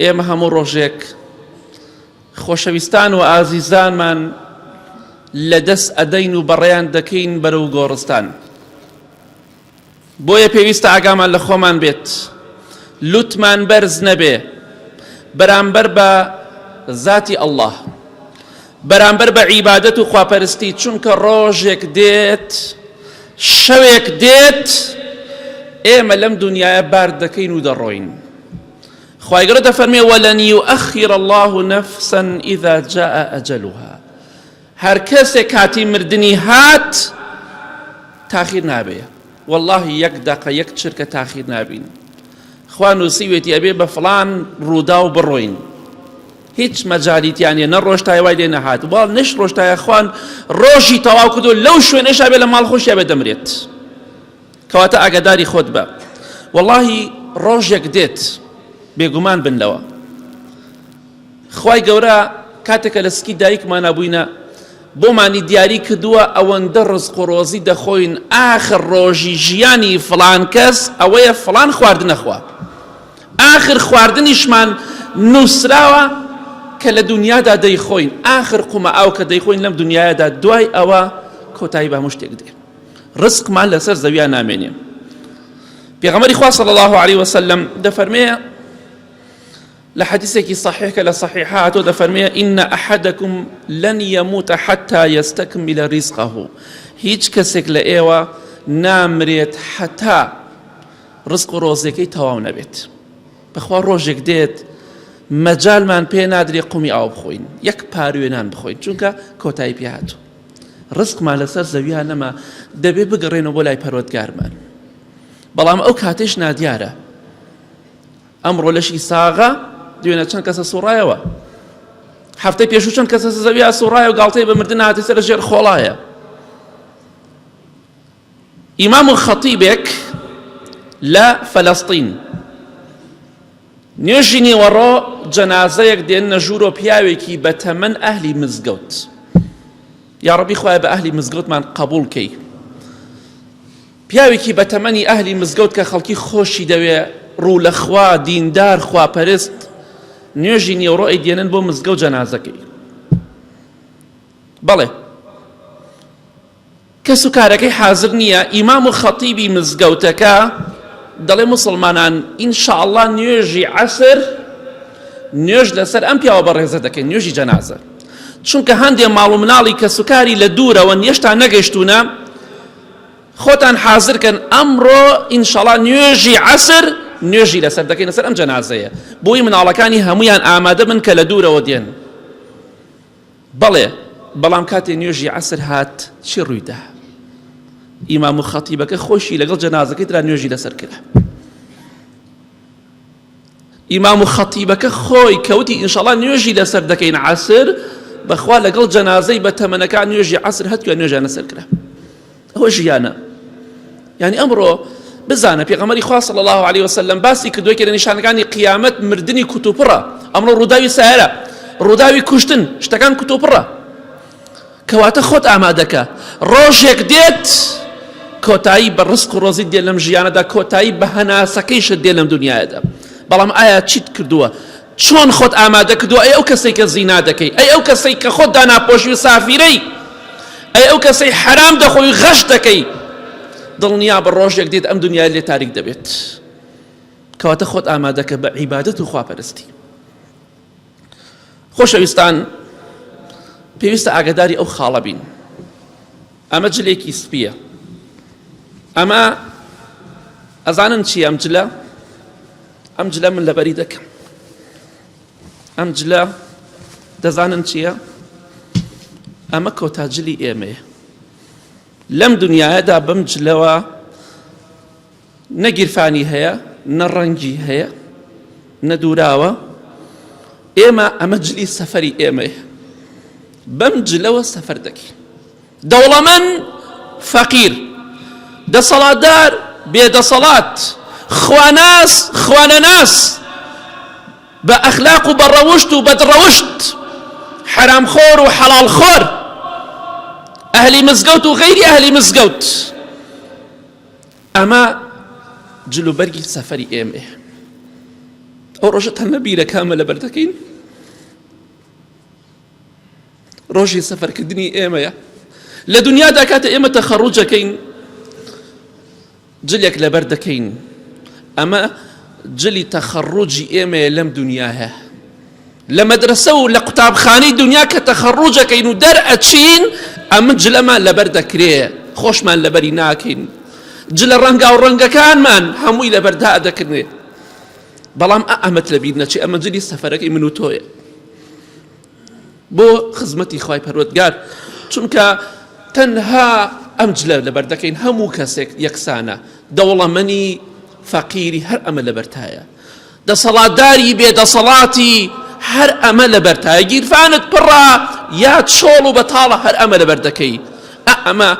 ئێمە هەموو ڕۆژێک خۆشەویستان و ئازیزانمان لە دەست ئەدەین و بەڕێیان دەکەین بەرەو گۆڕستان بۆیە پێویستە ئاگامان لە خۆمان بێت لوتمان بەرز نەبێ بەرامبەر بە ذاتی ئەلله بەرامبەر بە عیبادەت و خواپەرستی چونکە ڕۆژێک دێت شەوێک دێت ئێمە لەم دنیاە بار دەکەین و دەڕۆین خوای گەورە دەفەرمێ وەلەن یوئەخیر اللە نەفسا اذا جاء اجلها هەر کەسێک کاتی مردنی هات تاخیر نابێ والله یەک دەقە یەک چرکە تاخیر نابین خوا نووسیوێتی ئەبێ بە فلان ڕوودا و بڕۆین هیچ مەجاریتیانە نە ڕۆشتای وای لێ نەهات وا نش ڕۆشتایە خوان ڕۆژی تەواو کردو لەو شوێنەشا بێ لە ماڵ خۆشیا بێ دەمرێت کەواتە ئاگاداری خۆت بە وەڵاهی ڕۆژێک دێت بێگومان بن لەوە خوای گەورە کاتێکە لە سکی دایکمانە بووینە بۆمانی دیاری کردووە ئەوەندە ڕزق و ڕۆزی دەخۆین ئاخر ڕۆژی ژیانی فلان کەس ئەوەیە فلان خواردنەخوا ئاخر خواردنیشمان نووسراوە کە لە دنیادا دەیخۆین ئاخر قومە ئاو کە دەیخۆین لەم دنیادا دوای ئەوە کۆتایی بە مشتێک دێ ڕزقمان لەسەر زەویا نامێنێ پێغەمەری خوا صلی الله علیه وسلم دەفەرمێ لە حەدیثێکی صحیح کە لە صحیح هاتۆ دەفەرمێ إن أحدكم لن يموت حتى يستكمل رزقه هیچ کەسێک لە ئێوە نامرێت حتا ڕزق و ڕۆزەکەی تەواو نەبێت بەخوا ڕۆژێک دێت مەجالمان پێ نادرێ قومی ئاو بخۆین یەک پاروێنان بخۆین چونکە کۆتایی پێ هاتوو ڕزقمان لەسەر زەویا نەما دەبێ بگەڕێنەوە بۆ لای پەروەردگارمان بەڵام ئەو کاتێش نادیارە ئەمڕۆ لەشی ساغە دوێنە چەند کەسە سوڕایەوە هەفتەی پێشوو چەند کەسە زەویا سوڕایە و گاڵتەی بە مردن هاتی سەر ژێر خۆڵایە ئیمام و خەتیبێک لە فەلەستین نوێژی نیوەڕۆ جەنازەیەک دێننە ژوورۆ پیاوێکی بە تەمەن ئەهلی مزگەوت یا ڕەبی خوای بە ئەهلی مزگەوتمان قبول کەی پیاوێکی بە تەمەنی ئەهلی مزگەوت کە خەڵکی خۆشی دەوێ ڕوو لە خوا دیندار خوا پەرست نوێژی نیوەڕۆی دێنن بۆ مزگە و جەنازەکەی بەڵێ کەس و کارەکەی حازر نیە ئیمام و خەتیبی مزگەوتەکە دەڵێ موسڵمانان ان شاء اللە نوێژی عەسر نوێژ لەسەر ئەم پیاوە بەڕێزە دەکەین نوێژی جەنازە چونکە هەندێ ماڵ و مناڵی کەس و کاری لە دوورەوە نێشتان نەگەشتونە خۆتان حازرکەن ئەمڕۆ ئینشەڵا نوێژی عەسر نوێژی لەسەر دەکەین لەسەر ئەم جەنازەیە بۆی مناڵەکانی هەمویان ئامادە بن کە لە دوورەوە دێن بەڵێ، بەڵام کاتێ نوێژی عەسر هات چی ڕوویدا؟ ئیمام و خەتیبەکە خۆشی لەگەڵ جەنازەکەی ترا نوێژی لەسەر کرا. ئیمام و خەتیبەکە خۆی کەوتی ئینشاڵا نوێژی لەسەر دەکەین عسر بەخوا لەگەڵ جەنازەی بە تەمەنەکان نوێژی عسر هەتووە نوێژیان لەسەر کرا ئەوە ژیانە یانی ئەمڕۆ بزانە پێغەمەری خوا صلی الله علیه وسلم باسی کردووە کە لە نیشانەکانی قیامەت مردنی کوتوپڕە ئەمڕۆ ڕووداوی سایرە ڕووداوی کوشتن شتەکان کوتوپڕە کەواتە خۆت ئامادەکە ڕۆژێک دێت کۆتایی بە ڕسک و ڕۆزی دێ لەم ژیانەدا کۆتایی بە هەناسەکەیشت دێ لەم دنیاەدا بەڵام ئایا چیت کردووە چۆن خۆت ئامادە کردووە ئەی ئەو کەسەی کە زینا دەکەی ئەی ئەو کەسەی کە خۆت داناپۆشی و سافیرەی ئەی ئەو کەسەی حەرام دەخۆی و غەش دەکەی دڵنیابە ڕۆژێک دێت ئەم دنیای لێ تاریک دەبێت کەواتە خۆت ئامادەکە بە عیبادەت و خواپەرستی خۆشەویستان پێویستە ئاگداری ئەو خاڵە بین ئەمە جلێکی سپیە ئەمە ئەزانن چی ئەم جلە ئەم جلە من لەبەری دەکەم ئەم جلە دەزانن چییە؟ ئەمە کۆتا جلی ئێمەیە لەم دنیادا بەم جلەوە نەگیرفانی هەیە نە ڕەنگی هەیە نەدوراوە ئێمە ئەمە جلی سەفەری ئێمەیە بەم جلەوە سەفەر دەکەین دەوڵەمەند، فەقیر، دەسەڵاتدار، بێدەسەڵات، خواناس، خوانەناس، بە ئەخلاق و بە ڕەوشت و بەد ڕەوشت، حەرامخۆر و حەڵاڵخۆر، ئەهلی مزگەوت و غەیری ئەهلی مزگەوت، ئەمە جلوبەرگی سەفەری ئێمەیە. ئەو ڕۆژە تەنە بیرەکانمە لەبەر دەکەین. ڕۆژی سەفەرکردنی ئێمەیە لە دنیادا کاتە ئێمە تەخەڕوجەکەین جلێک لەبەر دەکەین ئەمە جلی تەخەڕوجی ئێمەیە لەم دنیاە لە مەدرسە و لە قوتابخانەی دنیا کە تەخەڕوجەکەین و دەرئەچین ئەمە جلەمان لەبەر دەکرێ خۆشمان لەبەری ناکەین جلە ڕەنگا و ڕەنگەکانمان هەمووی لەبەردا دەکردێت بەڵام ئەمەت لەبییر نەچی ئەمە جلی سەفەرەکەی من و تۆیە بۆ خزمەتی خوای پەروەردگار چونکە تەنها ئەم جلە لەبەر دەکەین هەموو کەسێک یەکسانە دەوڵەمەنی فەقیری هەر ئەمە لەبەرتایە دەسەڵاتداری بێدەسەڵاتی هەر ئەمە لەبەرتایە گیرفانت پڕە یا چۆڵ و بەتاڵە هەر ئەمە لەبەر دەکەی ئەمە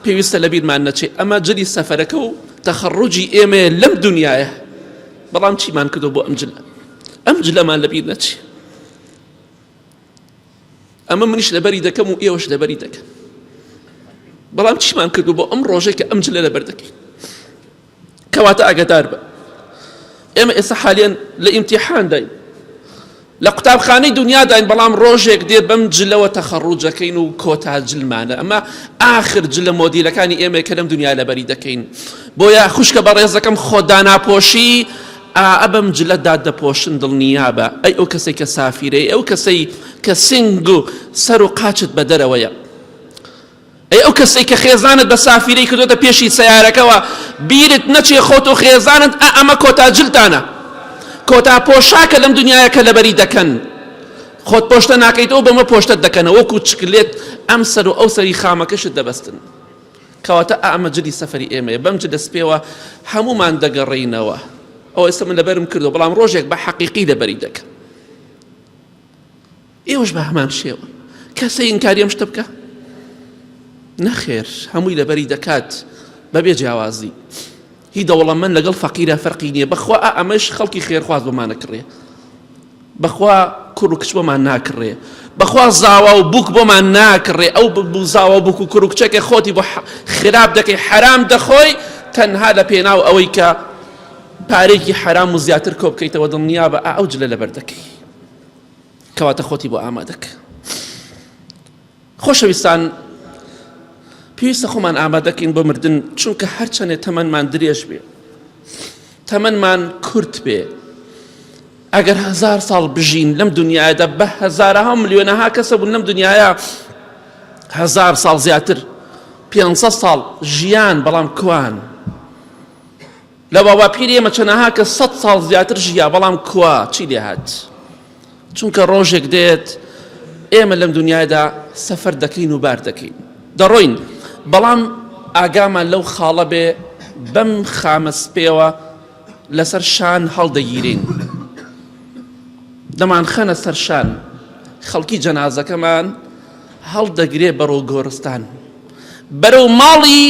پێویستە لە بیرمان نەچێت ئەمە جلی سەفەرەکە و تەخەڕوجی ئێمە لەم دنیاە بەڵام چیمان کردو بۆ ئەم جلە ئەم جلەمان لەبیر نەچێ ئەمە منیش لەبەری دەکەم و ئێوەش لەبەری دەکەن بەڵام چیمان کردو بۆ ئەم ڕۆژێک کە ئەم جلە لەبەر دەکەین کەواتە ئاگدار بە ئێمە ئێستا حالیان لە ئیمتیحان داین لە قوتابخانەی دنیاداین بەڵام ڕۆژێک دێ بەم جلەوە تەخەڕوجەکەین و کۆتا جلمانە ئەمە ئاخر جلە مۆدیلەکانی ئێمە کە لەم دنیا لەبەری دەکەین بۆیە خوشکە بە ڕێزەکەم خۆداناپۆشی ئا ئە بەم جلە دا دەپۆشن دڵنیابە ئەی ئەو کەسەی کە سافیرە ئەی ئەو کەسەی کە سنگ و سەر و قاچت بە دەرەوەیە ئەی ئەو کەسەی کە خێزانت بە سافیرەی کردوتە پێشی سیارەکەەوە بیرت نەچێ خۆت و خێزانت ئە ئەمە کۆتا جلتانە کۆتا پۆشاکە لەم دنیاە کە لەبەری دەکەن خۆت پۆشتە ناکەیتەوە بەمە پۆشتت دەکەنەوە وەکو چکلێت ئەم سەر و ئەو سەری خامەکەشت دەبەستن کەواتە ئەمە جلی سەفەری ئێمەیە بەم جلە سپێوە هەموومان دەگەڕێینەوە ئەو ئێستا من لەبەرم کردو بەڵام ڕۆژێک بە حەقیقی لەبەری دەکەم ئێوەش بە هەمان شێوە کەسە ئینکاریەم شتە بکە نەخێر هەمووی لەبەری دەکات بەبێ جیاوازی هی دەوڵەمەن لەگەڵ فەقیرا فەرقی نیە بەخوا ئا ئەمەش خەڵکی خێرخواز بۆمان ئەکڕێ بەخوا کوڕ و کچ بۆمان ناکڕێ بەخوا زاوا و بووک بۆمان ناکڕێ ئەو ببوو زاوا بووک و کوڕ و کچەکە خۆتی بۆ خراپ دەکەی حەرام دەخۆی تەنها لە پێناو ئەوەی کە پارێکی حەرام و زیاتر کۆ بکەیتەوە دڵنیا بە ئا ئەو جلە لەبەر دەکەی کەواتە خۆتی بۆ ئامادەکە خۆشەویستان پێویستە خۆمان ئامادەکەین بۆ مردن چونکە هەرچەندێ تەمەنمان درێژ بێ تەمەنمان کورت بێ ئەگەر هزار ساڵ بژین لەم دنیادا بە هزارها ملیۆنەها کەسە بوون لەم دنیاە هزار ساڵ زیاتر 500 ساڵ ژیان بەڵام کوان لە باوەقیری ئێمە چەنەها کەس سەد ساڵ زیاتر ژیا بەڵام کوا چی لێهات چونکە ڕۆژێک دێت ئێمە لەم دنیادا سەفەر دەکەین و بار دەکەین دەڕۆین بەڵام ئاگامان لەو خاڵە بێ بەم خامە سپێوە لەسەر شان هەڵدەگیرین دەمان خەنە سەرشان خەڵکی جەنازەکەمان هەڵدەگرێ بەڕۆ گۆرستان بەرەو ماڵی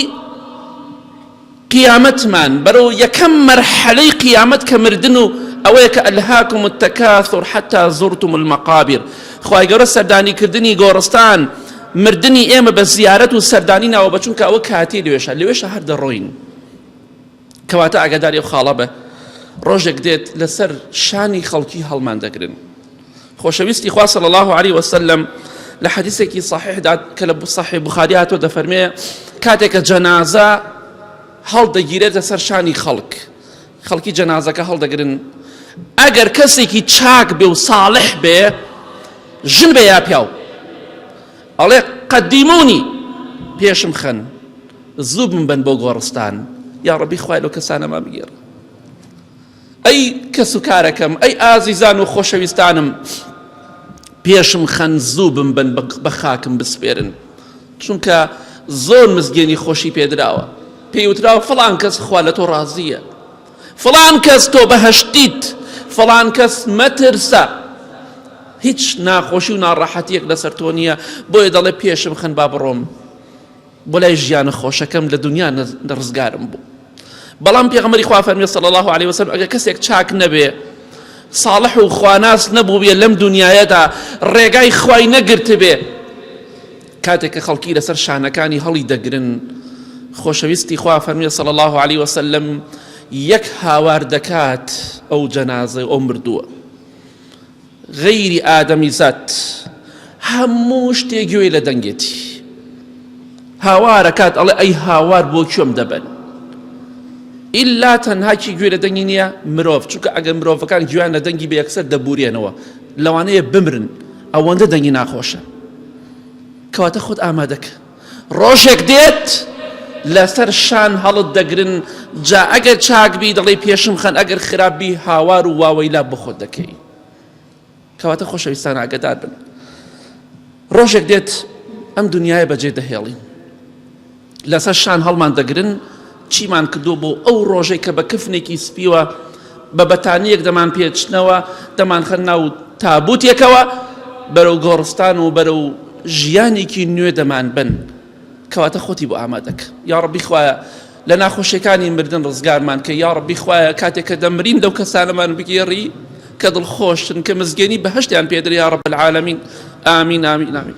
قیامەتمان بەرەو یەکەم مەرحەلەی قیامەت کە مردن و ئەوەیە کە الهاکم التکاثر حتی زرتم المقابر خوای گەورە سەردانی کردنی گۆڕستان مردنی ئێمە بە زیارەت و سەردانی ناوە بە چونکە ئەوە کاتی لەوێشە لەوێشە هەر دەڕۆین کەواتە ئاگاداری ئەو خاڵە بە ڕۆژێک دێت لەسەر شانی خەڵکی هەڵمان دەگرن. خۆشەویستی خوا صلی الله علیه وسلم لە حەدیثێکی صحیحدا کە لە صحیح بخاری هاتۆ دەفەرمێ کاتێکە جەنازە هەڵدەگیرێتە سەر شانی خەڵک خەڵکی جەنازەکە هەڵدەگرن ئەگەر کەسێکی چاک بێ و ساڵح بێ ژن بێ یا پیاو ئەڵێ قەدیمونی پێشم خەن زوو بم بن بۆ گۆڕستان یا ڕبی خوای لەو کەسانەما بگێڕ ئەی کەس و کارەکەم، ئەی ئازیزان و خۆشەویستانم پێشم خەن زوو بمبەن بە خاکم بسپێرن چونکە زۆر مزگێنی خۆشی پێدراوە پێی وتراوە فڵان کەس خوا لە تۆ ڕازیە فڵان کەس تۆ بەهشتیت فڵان کەس مەترسە هیچ ناخۆشی و ناڕەحەتیەک لەسەر تۆ نییە بۆیە دەڵێ پێشم خەن با بڕۆم بۆ لای ژیانە خۆشەکەم لە دونیا ڕزگارم بوو بەڵام پێغەمبەری خوا فەرمی صلی الله علیه وسلم ئەگە کەسێک چاک نەبێ صالح و خواناس نەبووبێ لەم دنیایەدا ڕێگای خوای نەگرتبێ کاتێک کە خەڵکی لەسەر شانەکانی هەڵی دەگرن خۆشەویستی خوا فەرمی صلی الله علیه وسلم یەک هاوار دەکات ئەو جەنازە ئەو مردووە غەیری ئادەمیزاد هەموو شتێ گوێی لە دەنگێتی هاوارەکات ئەڵێ ئەی هاوار بۆ کوێم دەبەن ئیلا تەنها کی گوێ لە دەنگی نییە مرۆڤ چونکە ئەگەر مرۆڤەکان گویان لە دەنگی بەیەکسەر دەبورێنەوە لەوانەیە بمرن ئەوەندە دەنگی ناخۆشە کەواتە خۆت ئامادەکە ڕۆژێک دێت لەسەر شان هەڵت دەگرن جا ئەگەر چاک بی دەڵێ پێشم خەن ئەگەر خراپ بی هاوار و واوەیلا بۆ خۆت دەکەی کەواتە خۆشەویستان ئاگدار بن ڕۆژێک دێت ئەم دنیاە بەجێ دەهێڵین لەسەر شان هەڵمان دەگرن چیمان کردووە بۆ ئەو ڕۆژەی کە بە کفنێکی سپیوە بە بەتانییەک دەمان پێچنەوە، دەمانخەن ناو تابووتێکەوە، بەرەو گۆڕستان و بەرەو ژیانێکی نوێ دەمانبەن، کەواتە خۆتی بۆ ئامادەکە، یاڕەبی خوایە لە ناخۆشیەکانی مردن ڕزگارمان کەی، یاڕەبی خوایە کاتێک کە دەمرین لەو کەسانەمان بگێڕی کە دڵخۆشن، کە مزگێنی بەهەشتیان پێدرێ یاڕەب العالمین، ئامین ئامین ئامین.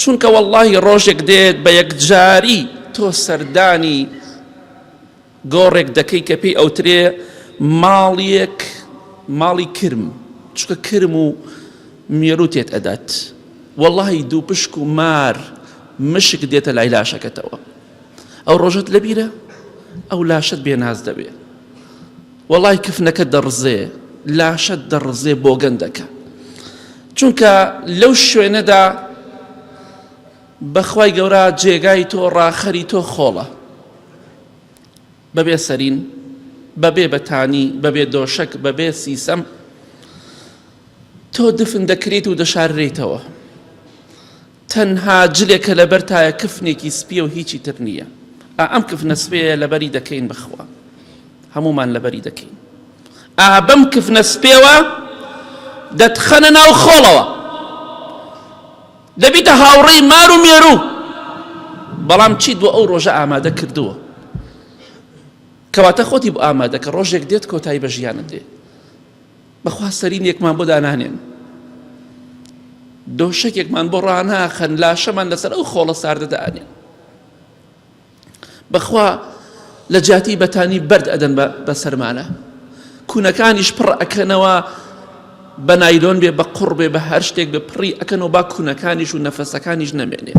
چونکە وەڵڵاهی ڕۆژێک دێت بە یەکجاری تۆ سەردانی گۆڕێک دەکەی کە پێی ئەوترێ ماڵیەک ماڵی کرم چونکە کرم و مێرو تێت ئەدات وەڵڵاهی دوو پشک و مار مشک دێتە لای لاشەکەتەوە ئەو ڕۆژت لەبیرە ئەو لاشت بێناز دەبێت وەڵای کفنەکەت دەڕزێ لاشەت دەڕزێ بۆگەندەکە چونکە لەو شوێنەدا بەخوای گەورە جێگای تۆ ڕاخەری تۆ خۆڵە بەبێ سەرین بەبێ بەتانی بەبێ دۆشک بەبێ سیسەم تۆ دفن دەکرێت و دەشاررێتەوە تەنها جلێکە لەبەر تایە کفنێکی سپیە و هیچی تر نیە ئا ئەم کفنە سپێیە لەبەری دەکەین بەخوا هەموومان لەبەری دەکەین ئا بەم کفنە سپێوە دەتخەنە ناو خۆڵەوە دەبیتە هاوڕێی مار و مێرو بەڵام چیت بۆ ئەو ڕۆژە ئامادە کردووە کەواتە خۆتی بۆ ئامادەکە ڕۆژێک دێت کۆتایی بە ژیانت دێت بەخوا سەرینێکمان بۆ دانانێن دۆشەکێکمان بۆ ڕاناخەن لاشەمان لەسەر ئەو خۆڵە ساردەدانێن بەخوا لە جاتی بەتانی بەرد ئەدەن بە سەرمانە کوونەکانیش پڕ ئەکەنەوە بە نایلۆن بێ بە قڕ بێ بە هەر شتێک بە پڕی ئەکەنەوە با کوونەکانیش و نەفەسەکانیش نەمێنێ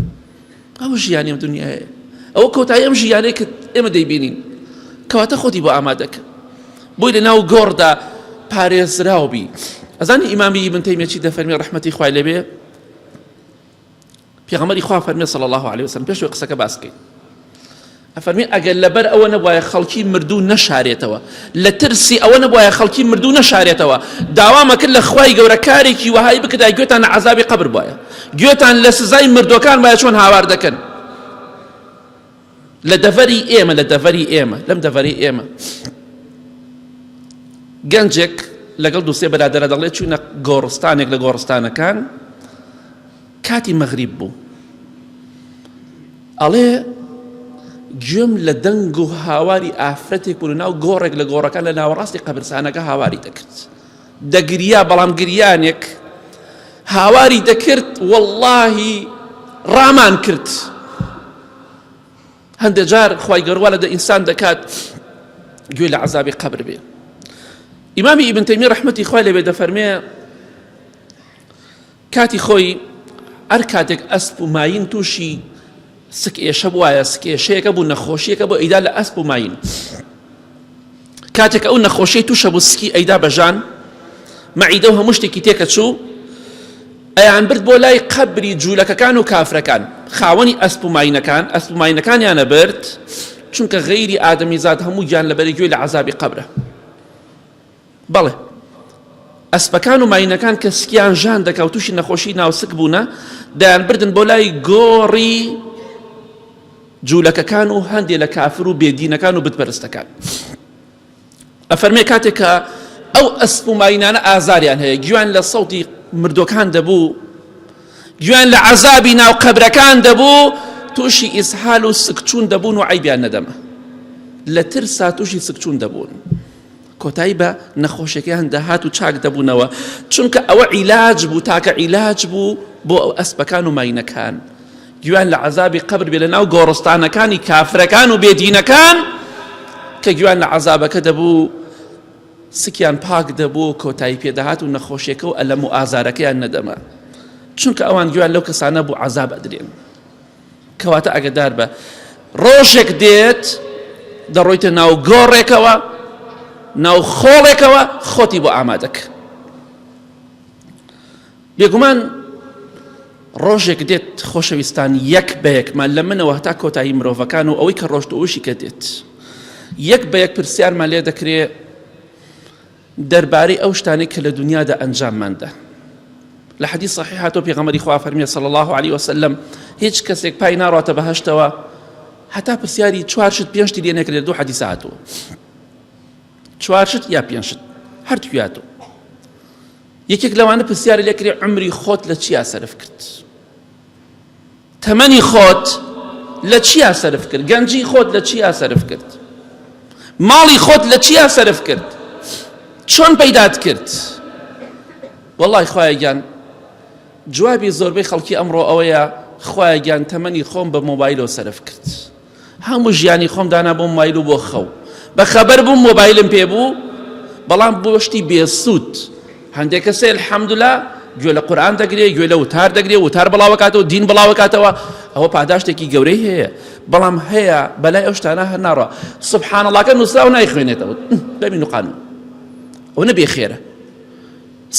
ئەوە ژیانی ئەم دنیایە ئەوە کۆتایی ئەم ژیانەی کە ئێمە دەیبینین کەواتە خۆتی بۆ ئامادەکە بۆی لە ناو گۆڕدا پارێزراو بی ئەزانی ئیمامی من تەیمێکی دەفەرمی ڕحمەتی خوای لەبێ پێغەمەری خوا فەرمی صلی الله عليه وسلم پێش قسەکە باسکەین ئەفەرموێ، ئەگەر لەبەر ئەوە نەبوایە خەڵکی مردوو نەشارێتەوە، لە ترسی ئەوە نەبوایە خەڵکی مردوو نەشارێتەوە، داوام ئەکرد لە خوای گەورە کارێکی وەهای بکردایە گوێتان لە عەزابی قەبر بوایە، گوێتان لە سزای مردووەکان بوایە چۆن هاوار دەکەن، لە دەڤەری ئێمە، لە دەڤەری ئێمە، لەم دەڤەرەی ئێمە. گەنجێک لەگەڵ دوو سێ برادەرە دەڵێ چووینە گۆڕستانێک لە گۆڕستانەکان، کاتی مەغریب بوو ئەڵێ گوێم لە دەنگ و هاواری ئافرەتێک و ناو گۆڕێک لە گۆڕەکە لە ناوەڕاستی قەبرسانەکە هاواری دەکرد دەگریا بەڵام گریانێک هاواری دەکرد واللهی ڕامان کرد هەندێ جار خی گەروە لە دە ئینسان دەکات گوێ لە عذابی قبر بێ ئیمامی ئیبنتەمی ڕحمەتی خی لەبێ دەفەرمێ کاتی خۆی هەر کاتێک ئەسپ و ماین تووشی سک ئێشە بواە سک ئێشەیەەکە بوو نەخۆشیەکە بۆ ئەیدا لە ئەسپ و ماین کاتێک ئەو نەخۆشی تووشە بوو سکی ئەیدا بەژان مەعیدە و هەموو شتێکی تێکە چوو ئەیان برد بۆ لای قەبری جوولەکەکان و کافرەکان خاوەنی ئەسپ و ماینەکان ئەسپ و ماینەکانیانە برد چونکە غەیری ئادەمی زاد هەموو گیان لە بەرەگوێ لە عذابی قەبرە بەڵێ ئەسپەکان و ماینەکان کە سکیان ژان دەکاو تووشی نەخۆشی ناوسک بوونە دەیان بردن بۆ لای گۆڕی جوولەکەکان و هەندێ لە کافر و بێدینەکان و بتپەرستەکان ئەفەرمێ کاتێک کە ئەو ئەسپ و ماینانە ئازاریان هەیە گویان لە سەوتی مردۆکان دەبوو گویان لە عذابی ناو قەبرەکان دەبوو تووشی ئیسحال و سکچوون دەبوون و عیبیان نەدەمە لە ترسا تووشی سکچوون دەبوون. کۆتایی بە نەخۆشیەکەیان دەهات و چاک دەبوونەوە چونکە ئەوە عیلاج بوو تاکە عیلاج بوو بۆ ئەو ئەسپەکان و ماینەکان گویان لە عذابی قبر بێ لە ناو گۆڕستانەکانی کافرەکان و بێدینەکان کە گویان لە عذابەکە دەبوو سکیان پاک دەبوو کۆتایی پێداهات و نەخۆشیەکە و ئەلەم و ئازارەکەیان نەدەما چونکە ئەوان گویان لەو کەسانە بوو عذاب ئەدرێن کەواتە ئەگەدار بە ڕۆژێک دێت دەڕۆیتە ناو گۆڕێکەوە ناو خۆڵێکەوە خۆتی بۆ ئامادەکە بێگومان ڕۆژێک دێت خۆشەویستان یەک بە یەکمان لە منەوە هەتا کۆتایی مرۆڤەکان و ئەوەی کە ڕۆشت ئەوشی کە دێت یەک بە یەک پرسیارمان لێ دەکرێت دەربارەی ئەو شتانەی کە لە دنیادا ئەنجاممان دا لە حەدی صحیح هاتۆ پێغەمەری خوا فەرمیێ صلی الله عليه وسلم هیچ کەسێک پای ناڕاتە بەهشتەوە هەتا پرسیاری چوارشت پێنجتی لێ نەکرێت دوو حەدی ساعتەوە چوارشت یا پێنجشت هەرتویاتەوە یەکێک لەوانە پرسیاری لەکرێ عمری خۆت لە چیا سەرف کرد تەمەنی خۆت لە چیا سەرف کرد گەنجی خۆت لە چیا سەرف کرد ماڵی خۆت لە چیا سەرف کرد چۆن پەیدات کرد وەڵی خوایە گیان جوابی زۆربەی خەڵکی ئەمڕۆ ئەوەیە خوایە گیان تەمەنی خۆم بە مۆبایلەوە سەرف کرد هەموو ژیانی خۆم دانا بۆ مۆبایل و بۆ خەو. بە خەبەر بووم مۆبایلم پێ بوو، بەڵام بۆ شتی بێسوود. هەندێک کەس هەیە الحمدللە گوێ لە قورئان دەگرێ، گوێ لە وتار دەگرێ، وتار بڵاو ئەکاتەوە، دین بڵاو ئەکاتەوە، ئەوە پاداشتێکی گەورەی هەیە. بەڵام هەیە بەلای ئەو شتانە هەر ناڕوا. سبحان اللەکە نووسراوە نایخوێنێتەوە. دەمی نوقانوو. ئەوە نە بێخێرە.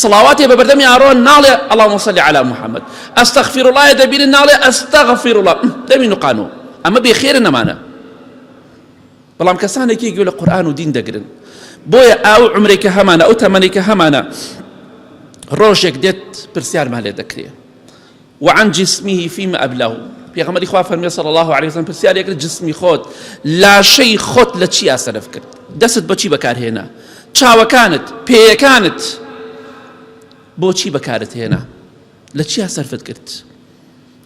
سڵاواتێ بە بەردەمی ئارۆن ناڵێ اللهم صل علی محمد استغفر الله دەبینن ناڵێ استغفر الله دەمی نقانو ئەمە بێ خێرە نەمانە بەڵام کەسانێکی گوێ لە قورآن و دین دەگرن بۆیە ئاو عمرێکە هەمانە ئەو تەمەنێکە هەمانە ڕۆژێک دێت پرسیارمان لێ دەکرێت وعن جسمه فیما ابلاه پێغەمبەری خوا فەرمی صلی الله علیه وسلم پرسیاری کرد جسمی خۆت لاشەی خۆت لە چیا سەرف کرد دەست بەچی بەکارهێنا چاوەکانت پێیەکانت بۆچی بەکارت هێنا لە چیا سەرفت کرد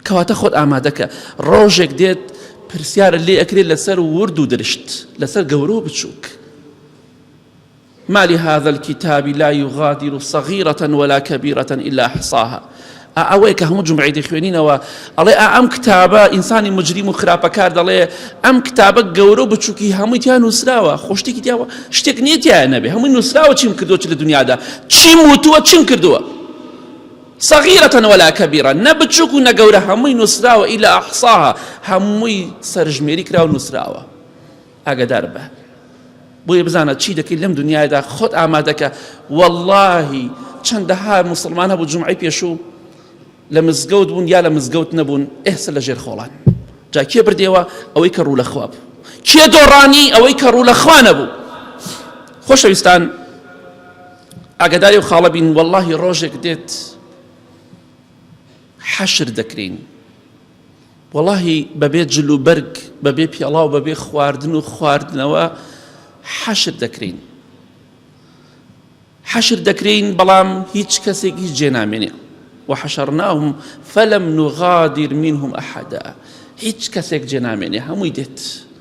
کەواتە خۆت ئامادەکە ڕۆژێک دێت پرسیارە لێ ئەکرێت لەسەر ورد و درشت لەسەر گەورە و بچووک ما لهذا الکتاب لا یغادر صغیرە ولا کبیرە الا احصاها ئا ئەوەیە کە هەموو جمعی دەخوێنینەوە ئەڵێ ئا ئەم کتابە ئینسانی مجریم و خراپەکار دەڵێ ئەم کتابە گەورە و بچووکی هەمووی تیا نووسراوە خۆشتێکی دیاوە شتێک نییە تیا نەبێ هەمووی نووسراوە چیم کردووە چ لە دنیادا چیم وتووە چیم کردووە صغیرەتەن وەلا کەبیرە نە بچووک و نەگەورە هەمووی نووسراوە ئیلا ئەحساها هەمووی سەرژمێری کراوە نووسراوە ئاگادار بە بۆیە بزانە چی دەکەیت لەم دنیادا خۆت ئامادەکە واللهی چەندەها مسلمان هەبوو جمعی پێشوو لە مزگەوت بوون یا لە مزگەوت نەبوون ئێستا لە ژێر خۆڵان جا کێ بردێەوە ئەوەی کە ڕوو لە خواب کێ دۆڕانی ئەوەی کە ڕوو لە خوانە بوو خۆشەویستان ئاگداری و خاڵە بین واللهی ڕۆژێک دێت حەشر دەکرین وەڵاهی بەبێ جل و بەرگ بەبێ پێڵاو بەبێ خواردن و خواردنەوە حەشر دەکرین حەشر دەکرین بەڵام هیچ کەسێک هیچ جێ نامێنێ وحشرناهم فلم نغادر منهم ئەحدا هیچ کەسێک جێ نامێنێ هەمووی دێت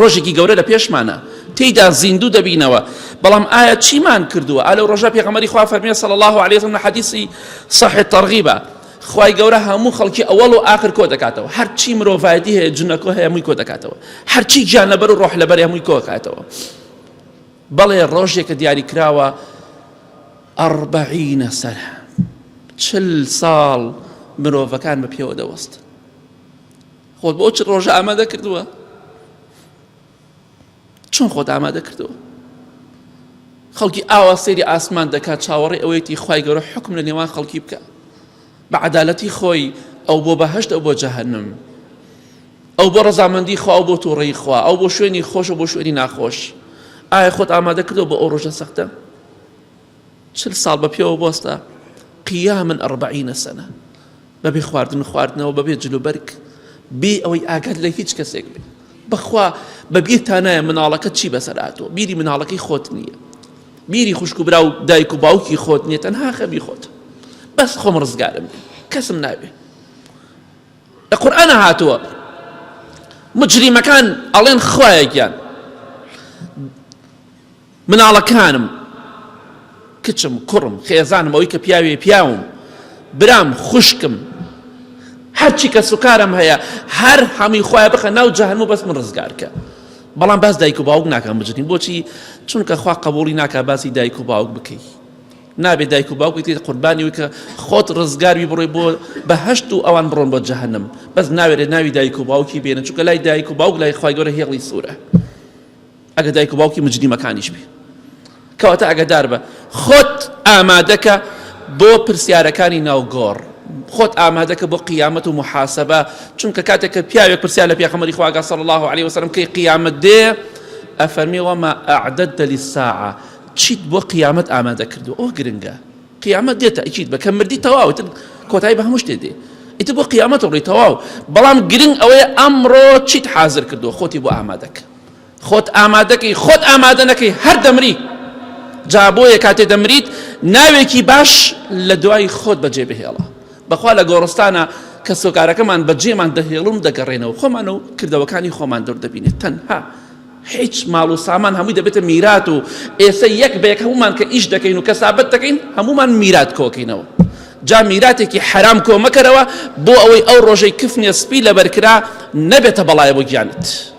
ڕۆژێکی گەورە لە پێشمانە تێیدا زیندوو دەبینەوە بەڵام ئایا چیمان کردووە ئالە ڕۆژە پێغەمەری خوا فەرمیێ سەڵ الله عليهزم لە حەدیسی صحێت تەڕغیبە خی گەورە هەموو خەڵکی ئەوەڵ و آخر کۆ دەکاتەوە هەرچی مرۆڤایەتی هەیە جنەکۆ هەیە مووی کۆ دەکاتەوە هەرچی گیان لەبەر و ڕۆح لەبەر هەمووی کۆکاتەوە بەڵێ ڕۆژێکە دیاری کراوە ئەڕبعینە سەر چل ساڵ مرۆڤەکان بە پێوە دەوەست خۆت بۆ چ ڕۆژە ئامادە کردووە چۆن خۆت ئامادە کردەوە خەڵکی ئاوا سێری ئاسمان دەکات چاوەڕێ ئەوەیەتی خی گەورە حکم لە نێوان خەڵکی بکە بە عدالەتی خۆی ئەو بۆ بەهشت ئەو بۆ جەهنم ئەو بۆ ڕزامەندی خوا بۆ تۆڕی خوا ئەو بۆ شوێنی خۆشە بۆ شوێنی ناخۆش ئایا خۆت ئامادە کردەوە بۆ ئەو ڕۆژە سەختە چل ساڵ بە پێوە بۆستە قیامن ئەڕبعینە سەنە بەبێ خواردن خواردنەوە بەبێ جلوبەرگ بێ ئەوەی ئاگات لە هیچ کەسێک بێ بەخوا بەبێ تانایە مناڵەکە چی بەسەراتۆ بیری مناڵەکەی خۆت نییە بیری خوشک و برا و دایک و باوکی خۆت نیە تەنها خەبی خۆت بەس خۆم ڕزگارم کەسم ناوێ لە قورآە هاتووە مجریمەکان ئەڵێن خوایە گیان مناڵەکانم، کچم، کوڕم، خێزانم، ئەوەی کە پیاویە، پیاوم، برام، خوشکم، هەرچی کەس و کارم هەیە، هەر هەمووی خوایە بخە ناو جەهەنم و بەس من ڕزگار کە. بەڵام باس دایک و باوک ناکەم بجنی بۆچی چونکە خوا قبوڵی ناکە باسی دایک و باوک بکەی نابێت دایک و باوک بکەیت قوربانی وکە خۆت ڕزگاروی بڕۆی بۆ بەهشت و ئەوان بڕۆن بۆ جەهنم بەس ناوێرێت ناوی دایک و باوکی بێنە چونکە لای دایک و باوک لای خی گەورە هێڵی سوورە ئەگەر دایک و باوکی مجریمەکانیش بێ کەواتە ئەگەدار بە خۆت ئامادەکە بۆ پرسیارەکانی ناوگۆڕ خۆت ئامادەکە بۆ قیامەت و محاسبە چونکە کاتێک کە پیاوێک پرسیار لە پیاخەمەری خواگە صلی الله عليه وسلم کەی قیامەت دێ ئەفەرمی وەما ئەعدەت دەلی ساعە چیت بۆ قیامەت ئامادە کردو ئەو گرنگە قیامەت دێتە ئیچیت بە کە مردی تەواوتن کۆتایی بە هەموو شتێ دێ ئیتر بۆ قیامەت ڕی تەواو بەڵام گرنگ ئەوەیە ئەمڕۆ چیت حازر کردو خۆتی بۆ ئامادەکە خۆت ئامادەکەی خۆت ئامادە نەکەی هەر دەمری جا بۆیە کاتێ دەمریت ناوێکی باش لە دوای خۆت بەجێ بهێڵە بەخوا لە گۆڕستانە کەسۆکارەکەمان بەجێمان دەهێڵن دەگەڕێنەوە خۆمان و کردەوەکانی خۆمان دەور دەبینێت تەنها هیچ ماڵ و سامان هەمووی دەبێتە میرات و ئێستا یەک بەیەک هەمومان کە ئیش دەکەین و کەسابەت دەکەین هەمومان میرات کۆکەینەوە جا میراتێکی حرام کۆمەکەرەوە بۆ ئەوەی ئەو ڕۆژەی کفنێ سپی لەبەرکرا نەبێتە بەڵایە بۆ گیانت.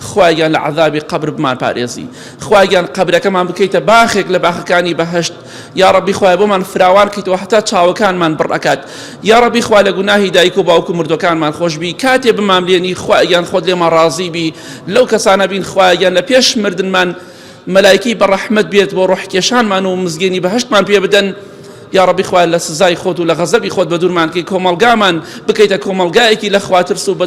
خوایە گیان لە عەزابی قەبر بمان پارێزی خوایە گیان قەبرەکەمان بکەیتە باخێک لە باخەکانی بەهەشت یا ڕەبی خوایە بۆمان فراوان کەیتەوە هەتا چاوەکانمان بڕ ئەکات یا ڕەبی خوا لە گوناهی دایک و باوک و مردوەکانمان خۆشبی کاتێ بماملێنی خوایە گیان خۆت لێمان ڕازی بی لەو کەسانە بین خوایە گیان لە پێش مردنمان مەلایکی بە ڕەحمەت بێت بۆ ڕۆحکێشانمان و مزگێنی بەهشتمان پێ بدەن یا ڕبی خوارد لە سزای خۆت و لە غەزەبی خۆت بە دوورمانکەی کۆمەلگامان بکەیتە کۆمەلگایەکی لە خواترس و بە